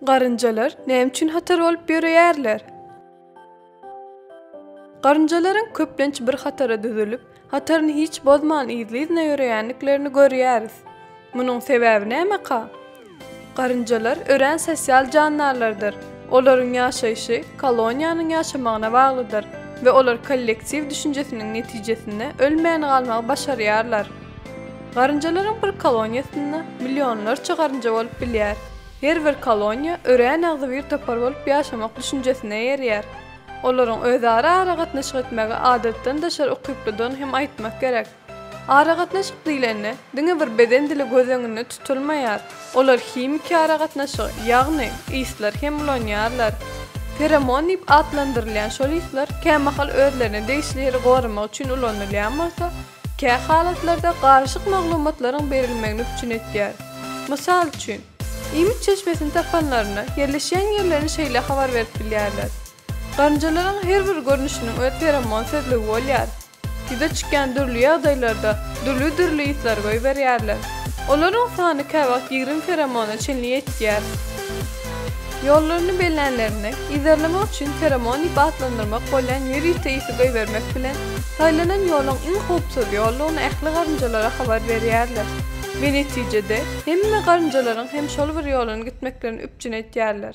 Garynjalar näme üçin hatar bolup ýöreýärler? Garynjalaryň köplenç bir hatara düzülip, hataryny hiç bozman yzly-yzyna ýöreýändiklerini görýäris. Munuň sebäbi nämeka? Garynjalar örän sosial jandarlardyr. Olaryň ýaşaýşy koloniýanyň ýaşamagyna baglydyr we olar kollektiw düşünjesiniň netijesinde ölmän galmagy başarýarlar. Garynjalaryň bir koloniýasynda millionlarça garynja bolup bilýär. Her bir koloniýa örän agzybir topar bolup ýaşamak düşünjesine eýerýär. Olaryň özara aragatnaşyk etmegi adatdan daşary ukyplydygyny hem aýtmak gerek. Aragatnaşyk diýlende, diňe bir beden dili göz öňünde tutulmaýar. Olar himiki aragatnaşygy, ýagny, yslar hem ulanýarlar. Feromon diýip atlandyrylýan şol yslar kämahal özlerine degişli ýeri goramak üçin ulanylýan bolsa, Kä halatlarda garyşyk maglumatlaryň berilmegini üpjün etýär. Mysal üçin, iýmit çeşmesini tapanlarynda ýerleşýän ýerlerini şeýle habar berip bilýärler, Garynjalaryň her bir görnüşiniň öz feromon sözlügi bolýar. Ýüze çykýan dürli ýagdaýlarda dürli-dürli yslar goýberýärler. Olaryň sany käwagt ýigrimi feromona çenli ýetýär. Ýollaryny bellänlerinde, yzarlamak üçin feromon diýip atlandyrmak bolýan ýörite isi goýbermek bilen, saýlanan ýoluň iň howpsuz ýoldugyny ähli garynjalara habar berýärler we netijede, hemme garynjalaryň hem şol bir ýolan gitmeklerini üpjün etýärler.